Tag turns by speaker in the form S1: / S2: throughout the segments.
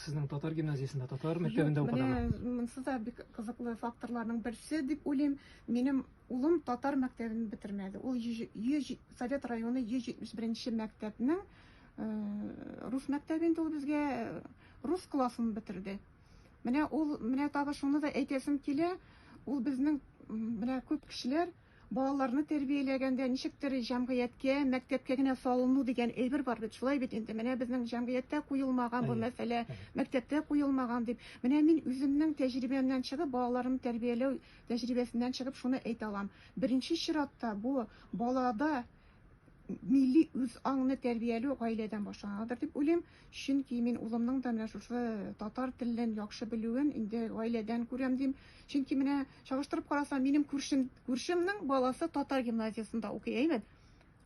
S1: Сезнең татар гимназиясендә, татар мәктәбендә укыдымы? Менә монсы да бик
S2: кызыклы факторларның берсе дип уйлыйм. Минем улым татар мәктәбен бетермәде. Ул Совет районы 171 мәктәбнең э, рус мәктәбе инде ул безгә э, рус классын бетерде. Менә ул, менә тагы шуны да әйтәсем килә, ул безнең менә күп кешеләр Балаларны тәрбияләгәндә ничектер җәмгыятькә, мәктәпкә генә салыну дигән әйбер бар бит, шулай бит инде, менә безнең җәмгыятьтә куелмаган бу мәсьәлә, мәктәптә куелмаган дип. Менә мин үземнең тәҗрибәмнән чыгып, балаларымны тәрбияләү тәҗрибәсеннән чыгып шуны әйтә алам, беренче чиратта бу балада милли үз аңны тәрбияләү гаиләдән башланадыр дип уйлыйм. Чөнки мин улымның да менә шушы татар телен яхшы белүен инде гаиләдән күрәм дим. Чөнки менә чагыштырып карасам, минем күршем, күршемнең баласы татар гимназиясендә укый, әйбәт.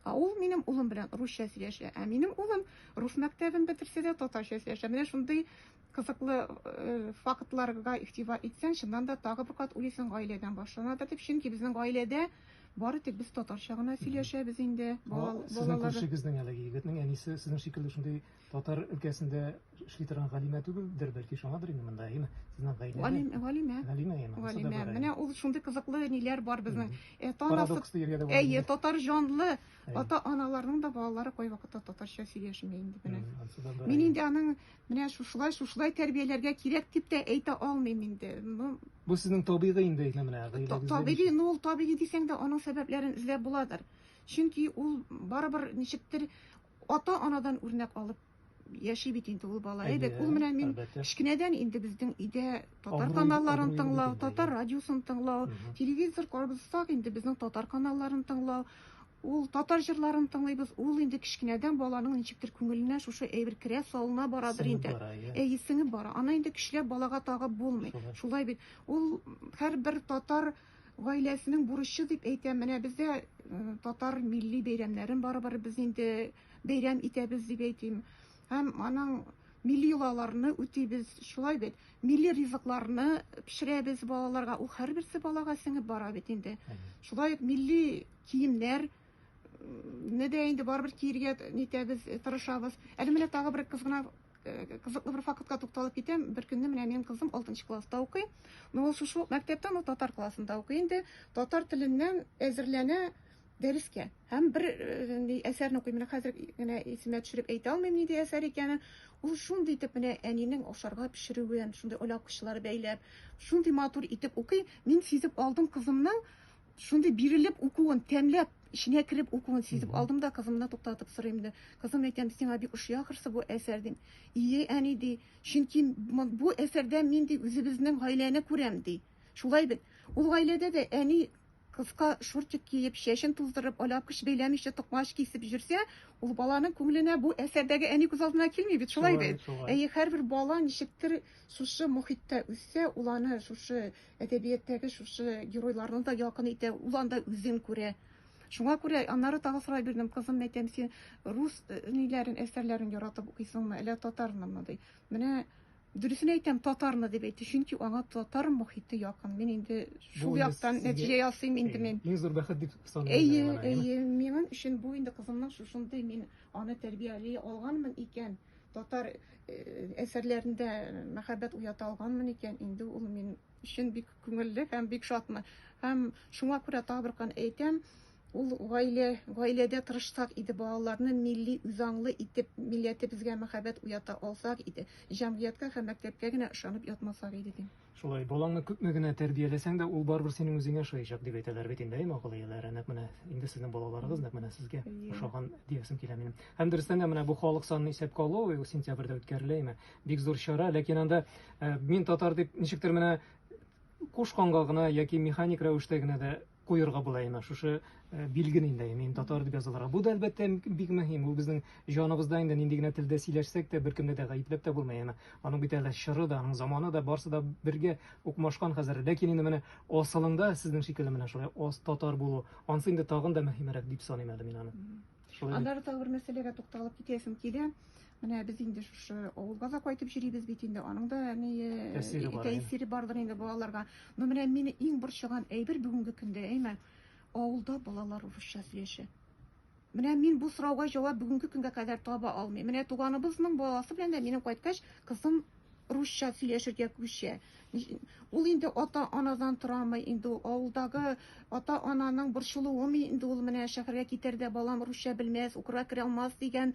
S2: Ә ул минем улым белән русча сөйләшә. Ә минем улым рус мәктәбен бетерсә дә татарча сөйләшә. Менә шундый кызыклы э, фактларга игътибар итсәң, чыннан да тагы бер кат уйлыйсың гаиләдән башланадыр дип. Чөнки безнең гаиләдә Бары тик без татарча гына сөйләшәбез инде. Сезнең күршегезнең
S1: әлеге егетнең әнисе сезнең шикелле шундый татар өлкәсендә эшли торган галимә түгелдер, бәлки шуңадыр инде монда, әйеме? Сезнең гаилә. Галимә, галимә. Галимә, әйеме? Галимә.
S2: Менә ул шундый кызыклы ниләр бар безнең. Парадокс дияргә
S1: дә була. Әйе, татар җанлы
S2: ата-аналарның да балалары кайвакытта татарча сөйләшми инде менә. Мин инде аның Менә шушылай, шушылай тәрбияләргә кирәк дип тә әйтә алмыйм инде. Ну, Бу сезнең
S1: табигый инде исә менә та- гыйләгезгә табигый, ничек- ну ул табигый
S2: дисәң дә, аның сәбәпләрен эзләп буладыр. Чөнки ул барыбер ничектер ата-анадан үрнәк алып яши бит инде ул бала. Әйбәт, Әйе, ул менә мин әлбәттә. кечкенәдән инде безнең өйдә татар Абруй- каналларын абруй тыңлау, бит инде, татар әйе. радиосын тыңлау, Мгм. телевизор карабыз сак инде безнең татар каналларын тыңлау. Ул, татар җырларын тыңлыйбыз, ул инде кечкенәдән баланың ничектер күңеленә шушы әйбер керә, салына барадыр инде. Сеңеп бара, иә. Әйе, сеңеп бара. Аны инде көчләп балага тагып булмый. Шулай. Шулай бит. Ул һәрбер татар гаиләсенең бурычы дип әйтәм. Менә бездә э, татар милли бәйрәмнәрен барыбер без инде бәйрәм итәбез дип әйтим. Һәм аның милли йолаларны үтибез. Шулай бит. Милли ризыкларны пешерәбез балаларга. Ул һәрберсе балага сеңеп бара бит инде. Әйе. Шулай ук милли Киемнәр не дә инде барыбер киергә нитәбез, тырышабыз. Әле менә тагы бер кыз гына кызыклы бер фактка тукталып китәм. Бер көнне менә минем кызым 6 класста укый. Но ул шушы ук мәктәптә, но татар классында укый инде. Татар теленнән әзерләнә дәрескә. Һәм бер э, әсәрне укый. Менә хәзер генә исемә төшереп әйтә алмыйм нинди әсәр икәнен. Ул шундый итеп менә әнинең ашарга пешерүен, шундый оляк кычлары бәйләп, шундый матур итеп укый. Мин сизеп алдым кызымның Шундый бирелеп укуын, тәмләп, эченә кереп укуын сизеп алдым да кызымны туктатып сорыйм да, кызым әйтәм, сиңа бик ошый ахрысы бу әсәр дим. Ие, әни ди, чөнки бу әсәрдә мин ди үзебезнең гаиләне күрәм ди. Шулай бит. Ул гаиләдә дә әни кыска шортик киеп, чәчен туздырып, алапкыч бәйләмичә токмач кисеп йөрсә, ул баланың күңеленә бу әсәрдәге әни күз алдына килми бит, шулай бит. Әйе, һәрбер бала ничектер шушы мохиттә үссә, ул аны шушы Әдәбияттәге шушы геройларны да якын итә, ул анда үзен күрә. Шуңа күрә аннары тагы сорай бирдем, кызым, мәйтәм, син рус э, ниләрен, әсәрләрен яратып укыйсыңмы, әллә татарнымы, ди. Менә дөресен әйтәм, татарны дип әйтте, чөнки аңа татар мохите якын. Мин инде шул яктан нәтиҗә ясыйм инде мин. Иң зур бәхет дип саныйм.
S1: Әйе, әйе,
S2: минем өчен бу инде кызымның шушындый мин аны тәрбияли алганмын икән. Татар әсәрләрендә мәхәббәт уята алганмын икән, инде ул мин өчен бик күңелле һәм бик шатмы. Һәм шуңа күрә табыркан әйтәм, ул гаилә, гаиләдә тырышсак иде, балаларны милли үзаңлы итеп, милләтебезгә мәхәббәт уята алсак иде, җәмгыятькә һәм мәктәпкә генә ышанып ятмасак иде, дим. Шулай, балаңны күпме
S1: генә тәрбияләсәң дә, ул барыбер синең үзеңә ошаячак дип әйтәләр бит инде, әйме, акыллы ияләре. Нәкъ менә инде сезнең балаларыгыз нәкъ менә сезгә Иә. ошаган диясем килә минем. Һәм дөрестән дә менә бу халык санын исәпкә алу ул сентябрьдә үткәрелә, әйме. Бик зур чара, ләкин анда э, мин татар дип ничектер менә кушканга гына яки механик рәвештә генә дә куерга була инде шушы э, билгене инде мин татар дип язылырга бу да әлбәттә бик мөһим ул безнең җаныбызда инде нинди генә телдә сөйләшсәк тә беркемне дә гаепләп тә булмый яна аның бит әле чоры да аның заманы да барсы да бергә укмашкан хәзер ләкин инде менә асылында сезнең шикелле менә шулай ос татар булу ансы инде тагын да мөһимрәк дип саныйм әле мин аны Шулай. Аннары тагы
S2: бер мәсьәләгә тукталып китәсем килә. Менә без инде шушы авылга да кайтып йөрибез бит инде. Аның да ни тәэсире бар. Тәэсире бардыр инде балаларга. Но менә мине иң борчыган әйбер бүгенге көндә, әйме, авылда балалар урысча сөйләшә. Менә мин бу сорауга җавап бүгенге көнгә кадәр таба алмыйм. Менә туганыбызның баласы белән дә минем кайткач, кызым русча сөйләшергә күчә. Ул инде ата-анадан торамы инде ул, авылдагы ата-ананың борчылуымы инде ул, менә шәһәргә китәр дә балам русча белмәс, укырга керә алмас дигән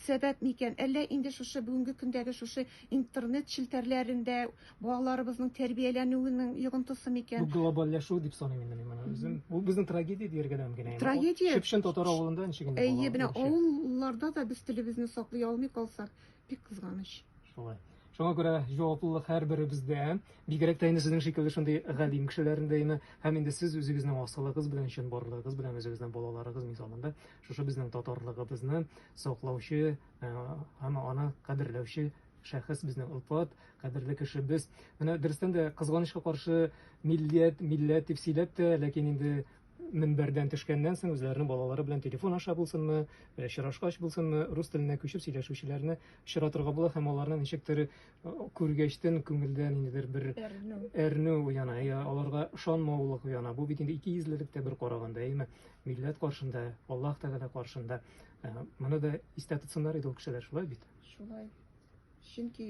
S2: сәбәп микән? Әллә инде шушы бүгенге көндәге шушы интернет челтәрләрендә балаларыбызның тәрбияләнүенең йогынтысы микән? Бу глобальләшү
S1: дип
S2: саныйм
S1: инде мин моны үзем. Бу безнең трагедия дияргә дә мөмкин. Трагедия. Чепшин татар
S2: авылында
S1: ничек инде бала? Әйе, менә авылларда
S2: да без телебезне саклый алмый калсак, Бик кызганыч. Шулай. Шуңа
S1: күрә җаваплылык һәрберебездә, бигрәк тә инде сезнең шикелле шундый галим кешеләрендә име, һәм инде сез үзегезнең асылыгыз белән, чынбарлыгыгыз белән, үзегезнең балаларыгыз мисалында, шушы безнең татарлыгыбызны саклаучы э, һәм аны кадерләүче шәхес безнең Илфат, кадерле кешебез. Менә дөрестән дә кызганычка каршы милләт, милләт дип сөйләп тә, ләкин инде мөнбәрдән төшкәннән соң үзләренең балалары белән телефон аша булсынмы, э, очрашкач булсынмы, рус теленә күчеп сөйләшүчеләрне очратырга була һәм аларны ничектер э, күргәчтен күңелдә ниндидер бер әрнү, әрнү уяна, я аларга ышанмаулык уяна. Бу бит инде ике йөзлелек тә бер караганда, әйме? Милләт каршында, Аллаһ Тәгалә каршында. Э, моны да истә тотсыннар иде ул кешеләр, шулай бит? Шулай.
S2: Чөнки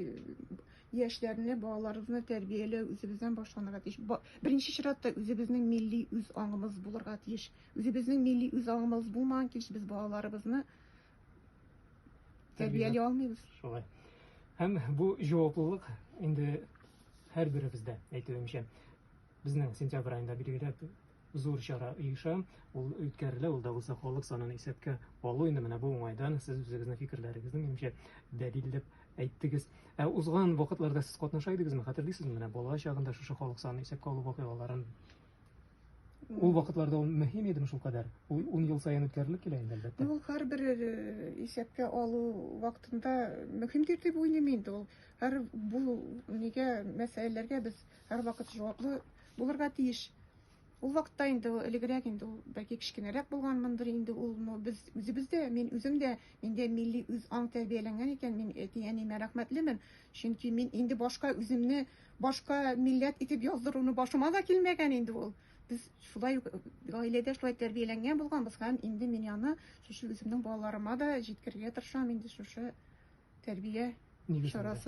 S2: яшьләрне, балаларыбызны тәрбияләү үзебездән башланырга тиеш. Беренче чиратта үзебезнең милли үз аңыбыз булырга тиеш. Үзебезнең милли үз аңыбыз булмаган килеш без балаларыбызны тәрбияли алмыйбыз. Шулай.
S1: Һәм бу җаваплылык инде һәрберебездә, әйтүемчә. Безнең сентябрь аенда билгеләп зур чара оеша, ул үткәрелә, ул да булса халык санын исәпкә алу. Инде менә бу уңайдан сез үзегезнең фикерләрегезне, минемчә, дәлил дип әйттегез. Ә узган вакытларда сез катнаша идегезме? Хәтерлисезме, менә бала чагында шушы халык санын исәпкә алу вакыйгаларын? Ул вакытларда ул мөһим идеме шул кадәр? Ул 10 ел саен үткәрелеп килә инде, әлбәттә. Ул һәрбер э,
S2: исәпкә алу вакытында мөһимдер дип уйлыйм инде ул. Һәр бу нигә мәсьәләләргә без Һәрвакыт җаваплы булырга тиеш. Ул вакытта инде ул элегрәк инде ул бәлки кечкенәрәк булганмындыр инде ул, но без үзебез дә, мин үзем дә, миндә милли үз аң тәрбияләнгән икән, мин әти-әниемә рәхмәтлемен, чөнки мин инде башка үземне башка милләт итеп яздыруны башыма да килмәгән инде ул. Без шулай ук гаиләдә шулай тәрбияләнгән булганбыз һәм инде мин аны шушы үземнең балаларыма да җиткерергә тырышам инде шушы тәрбия чарасы.